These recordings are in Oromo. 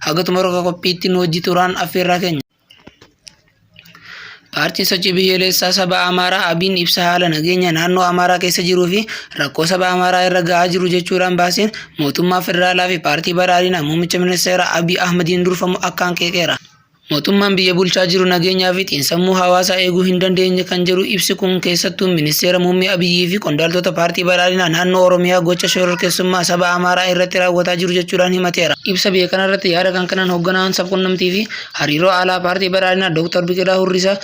Haga xumura qophiitti nu hojii turaan affeerraa keenya. Paartiin sochii biyyoolessaa saba Amaaraa Abiin ibsa haala nageenya naannoo Amaaraa keessa jiruu fi rakkoo saba Amaaraa irra gahaa jiru jechuudhaan baaseen mootummaa federaalaa fi paartii badhaadhinaa muummicha ministeeraa Abiy Ahmadiin durfamu akkaan qeeqeera. Mootummaan biyya bulchaa jiru nageenyaa fi xiinsammuu hawaasaa eeguu hin dandeenye kan jedhu ibsi kun keessattuu ministeera muummee Abiyyii fi qondaaltota paartii badhaadhinaa naannoo Oromiyaa gocha shororkeessummaa saba Amaaraa irratti raawwataa jiru jechuudhaan himateera. Ibsa bahe kanarratti yaada kan kennan hogganaan sabqunnamtii fi hariiroo alaa paartii badhaadhinaa Dooktar Biqilaa Hurrisaa,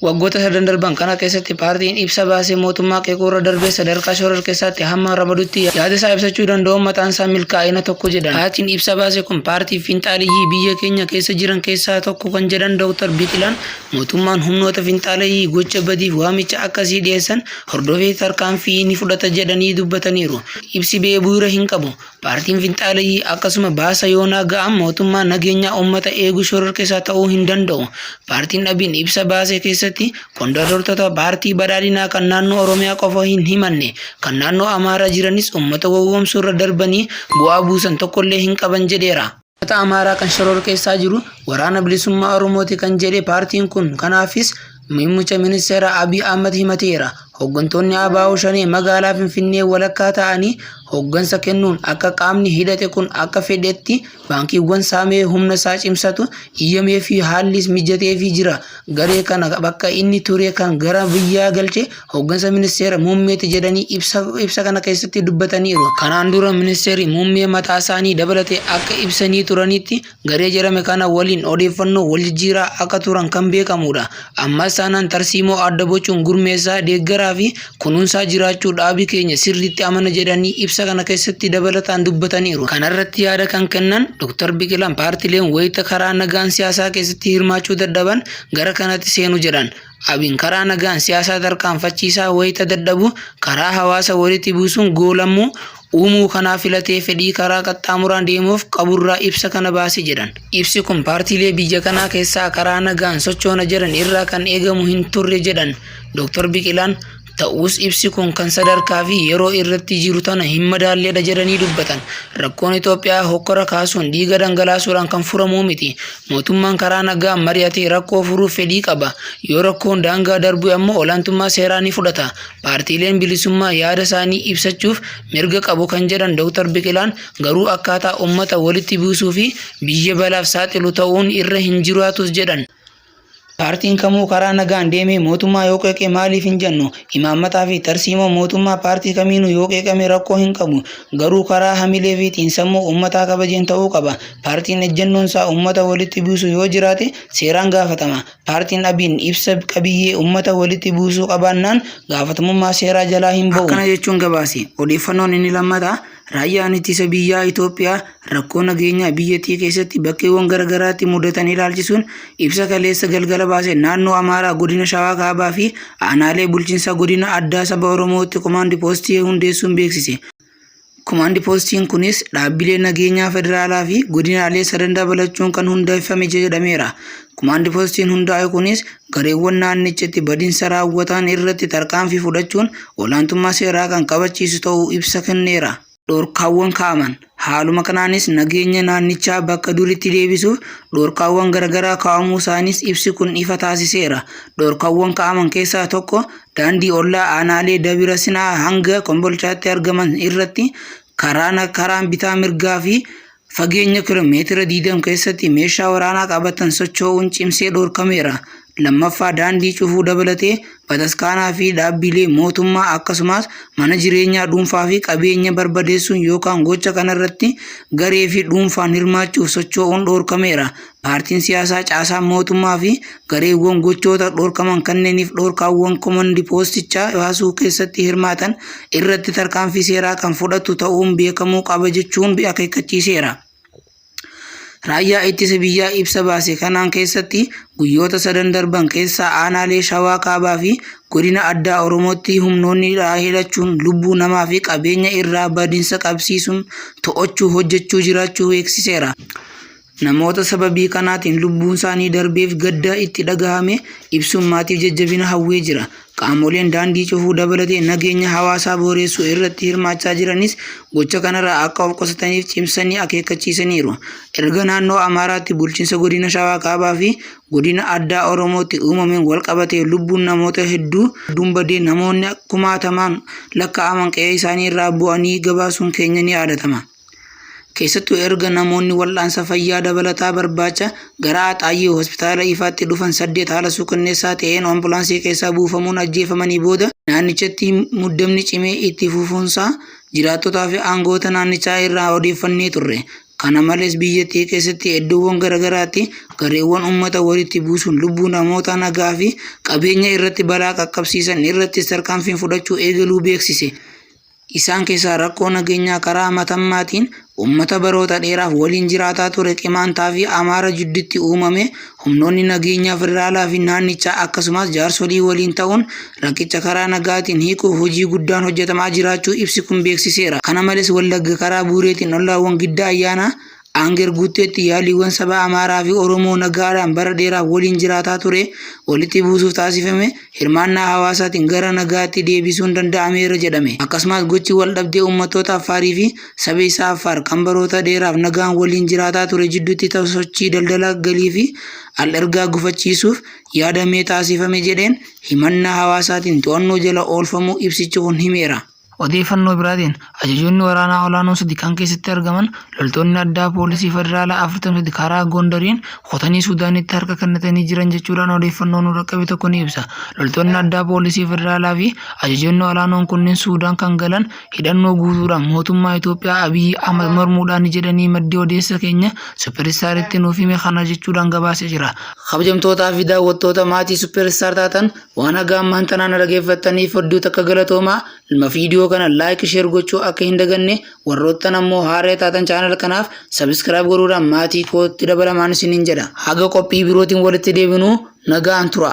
Waggoota sadan darban kana keessatti paartiin ibsa baasee mootummaa qeequurra darbee sadarkaa shororkeessaatti hamma ramadutti yaada isaa ibsachuu danda'uun mataan isaa milkaa'ina tokko jedhan. Paartiin ibsa baase kun paartii finxaaleyyii biyya keenya keessa jiran keessaa tokko kan jedhan Dooktar Biqilaan, mootummaan humnoota finxaaleyyii gocha badiif waamicha akkasii dhiyeessan hordofee tarkaanfii ni fudhata jedhanii dubbataniiru. Ibsi ba'e bu'uura hin qabu. Paartiin Finxaaleyyii akkasuma baasa yoonaa ga'an mootummaa nageenyaa uummata eegu shororkeessaa ta'uu hin danda'u. Paartiin dhabiin ibsa baase keessatti qondaaltota paartii badhaadhinaa kan naannoo Oromiyaa qofa hin himanne kan naannoo Amaaraa jiranis uummata gowwoomsuu irra darbanii bu'aa buusan tokkollee hin qaban jedheera. Ummata Amaaraa kan shororkeessaa jiru Waraana Bilisummaa Oromooti kan jedhe paartiin kun kanaafis muummicha ministeeraa Abiy Ahmad himateera. Hooggantoonni ABO Shanee magaalaa Finfinnee walakkaa ta'anii hooggansa kennuun akka qaamni hidhate kun akka fedhetti baankiiwwan saamee humna isaa cimsatu iyyameefii haallis mijateefii jira. Garee kana bakka inni ture kan gara biyyaa galche Hooggansa ministeera muummeeti jedhanii ibsa kana keessatti dubbataniiru. Kanaan dura ministeerri muummee mataa isaanii dabalatee akka ibsanii turanitti garee jedhame kana waliin odeeffannoo wal jijjiiraa akka turan kan beekamudha. Ammas taanaan tarsiimoo adda bocuun gurmeessaa, deeggaraa fi kunuunsaa jiraachuu dhaabi keenya sirriitti amana jedhanii ibsa kana keessatti dabalataan dubbataniiru. Kanarratti yaada kan kennan Dr. Biqilaan paartileen wayita karaa nagaan siyaasaa keessatti hirmaachuu dadhaban gara kanatti seenu jedhan. Abiin karaa nagaan siyaasaa tarkaanfachiisaa wayita dadhabu karaa hawaasa walitti buusuun goolamuu uumuu kanaa filatee fedhii karaa qaxxaamuraan deemuuf qaburraa ibsa kana baase jedhan. Ibsi kun paartiilee biyya kanaa keessaa karaa nagaan sochoona jedhan irraa kan eegamu hin turre jedhan Dr. Biqilaan. Ta'us ibsi kun kan sadarkaa fi yeroo irratti jiru tana hin madaalledha jedhanii dubbatan. Rakkoon Itoophiyaa hokkora kaasuun dhiiga dhangalaasuudhaan kan furamuu miti. Mootummaan karaa nagaa mari'atee rakkoo furuuf fedhii qaba. Yoo rakkoon daangaa darbu ammoo olaantummaa seeraa ni fudhata. Paartiileen bilisummaa yaada isaanii ibsachuuf mirga qabu kan jedhan Dr. Biqilaan garuu akkaataa uummata walitti buusuu fi biyya balaaf saaxilu ta'uun irra hin jiraatus jedhan. Paartiin kamuu karaa nagaan deemee mootummaa yoo qeeqe maaliif hin jennu? Imaammataa fi tarsiimoo mootummaa paartii kamiinuu yoo qeeqame rakkoo hin qabu. Garuu karaa hamilee fi xiinsammuu uummataa kabajeen ta'uu qaba. Paartiin ejjennoon isaa uummata walitti buusu yoo jiraate seeraan gaafatama. Paartiin ABn ibsa qabiyyee uummata walitti buusuu qabaannaan gaafatamummaa seeraa jalaa hin ba'u. Akkana jechuun gabaase. Odeeffannoon inni lammataa Raayyaan ittisa biyyaa Itoophiyaa rakkoo nageenyaa biyyattii keessatti bakkeewwan garaagaraatti mudatan ilaalchisuun ibsa kaleessa galgala baase naannoo Amaaraa godina Shawaa Kaabaa fi aanaalee bulchiinsa godina addaa saba Oromootti komaandi poostii hundeessuun beeksise. Komaandi poostiin kunis dhaabbilee nageenyaa federaalaa fi godinaalee sadan dabalachuun kan hundeeffame jedhameera. Kumaandi poostiin hundaa'e kunis gareewwan naannichatti badinsa raawwatan irratti tarkaanfii fudhachuun olaantummaa seeraa kan kabachiisu ta'uu ibsa kenneera. Dhorkaawwan kaa'aman. Haaluma kanaanis nageenya naannichaa bakka duritti deebisuuf dhorkaawwan garagaraa kaa'amuu isaaniis ibsi kun ifa taasiseera. Dhorkaawwan kaa'aman keessaa tokko daandii ollaa aanaalee Dabira Sinaa hanga Kombolchaatti argaman irratti karaan karaan bitaa mirgaa fi Fageenya kilomeetira 20 keessatti meeshaa waraanaa qabatan socho'uun cimsee dhorkameera. Lammaffaa daandii cufuu dabalatee bataskaanaa fi dhaabbilee mootummaa akkasumas mana jireenyaa dhuunfaa fi qabeenya barbadeessuun yookaan gocha kanarratti garee fi dhuunfaan hirmaachuuf socho'uun dhorkameera. Paartiin siyaasaa caasaan mootummaa fi gareewwan gochoota dhorkaman kanneeniif dhorkaawwan komandi poostichaa baasuu keessatti hirmaatan irratti tarkaanfii seeraa kan fudhatu ta'uun beekamuu qaba jechuun akeekkachiiseera. Raayyaa ittisa biyyaa ibsa baase kanaan keessatti guyyoota sadan darban keessa aanaalee Shawaa Kaabaa fi godina addaa Oromootti humnoonni hidhaa hidhachuun lubbuu namaa fi qabeenya irraa badinsa qabsiisuun to'achuu hojjechuu jiraachuu beeksiseera. Namoota sababii kanaatiin lubbuunsaanii darbeef gadda itti dhagahame ibsuun maatiif jajjabina hawwee jira. Qaamoleen daandii cufuu dabalatee nageenya hawaasaa booreessuu irratti hirmaachaa jiranis gocha kanarraa akka of qusataniif cimsanii akeekkachiisaniiru. Erga naannoo Amaaraatti bulchiinsa godina Shawaa Kaabaa fi godina addaa Oromootti uumameen walqabatee lubbuun namoota hedduun badee namoonni kumaatamaan lakkaa'aman qe'ee isaanii irraa bu'anii gabaasuun keenya ni yaadatama. Keessattuu erga namoonni wal'aansa fayyaa dabalataa barbaacha gara Axaayyee hospitaala ifaatti dhufan saddeet haala suukanneessaa ta'een ambulaansii keessaa buufamuun ajjeefamanii booda naannichatti muddamni cimee itti fufuunsaa jiraattotaa fi aangoota naannichaa irraa odeeffannee turre. Kana malees biyyattii keessatti iddoowwan garaagaraatti gareewwan uummata walitti buusuun lubbuu namoota nagaa fi qabeenya irratti balaa qaqqabsiisan irratti tarkaanfiin fudhachuu eegaluu beeksise. Isaan keessaa rakkoo nageenyaa karaa Matammaatiin uummata baroota dheeraaf waliin jiraataa ture Qimaantaa fi Amaara jidduutti uumame humnoonni nageenyaa federaalaa fi naannichaa akkasumas jaarsolii waliin ta'uun rakkicha karaa nagaatiin hiikuuf hojii guddaan hojjetamaa jiraachuu ibsi kun beeksiseera. Kana malees Wallagga karaa Buureetiin ollaawwan Giddaa Ayyaanaa, Anger guutteetti yaaliiwwan saba Amaaraa fi Oromoo nagaadhaan bara dheeraaf waliin jiraataa ture walitti buusuuf taasifame hirmaannaa hawaasaatiin gara nagaatti deebisuun danda'ameera jedhame. Akkasumas gochi wal dhabdee uummattoota Affaarii fi saba isaa Affaar kan baroota dheeraaf nagaan waliin jiraataa ture jidduutti ta'u sochii daldala galii fi al-ergaa gufachiisuuf yaadamee taasifame jedheen himannaa hawaasaatiin to'annoo jala oolfamuu ibsichi kun himeera. Odeeffannoo biraatiin, ajajoonni waraanaa olaanoon sadi kan keessatti argaman loltoonni addaa poolisii federaalaa 43 karaa Gondariin kutanii Suudaanitti harka kennatanii jiran jechuudhaan odeeffannoo nu dhaqqabe tokko ni ibsa. Loltoonni addaa poolisii federaalaa fi ajajoonni olaanoon kunniin Suudaan kan galan hidhannoo guutuudhaan mootummaa Itoophiyaa Abiyyi Ahmad mormuudhaani jedhanii maddi odeessa keenya Super Staritti nuuf hime kana jechuudhaan gabaasee jira. Kabajamtootaa fi daawwattoota maatii Super Star taatan Waan haga ammaan tanaa na dhageeffattaniif hedduu takka galatoomaa. Ilma viidiyoo kana like share gochuu akka hin daganne warroottan ammoo haaree taatan channel kanaaf subscribe godhuudhaan maatii kootti dabalamaan isiniin jedha. Haga qophii birootiin walitti deebinu nagaan tura.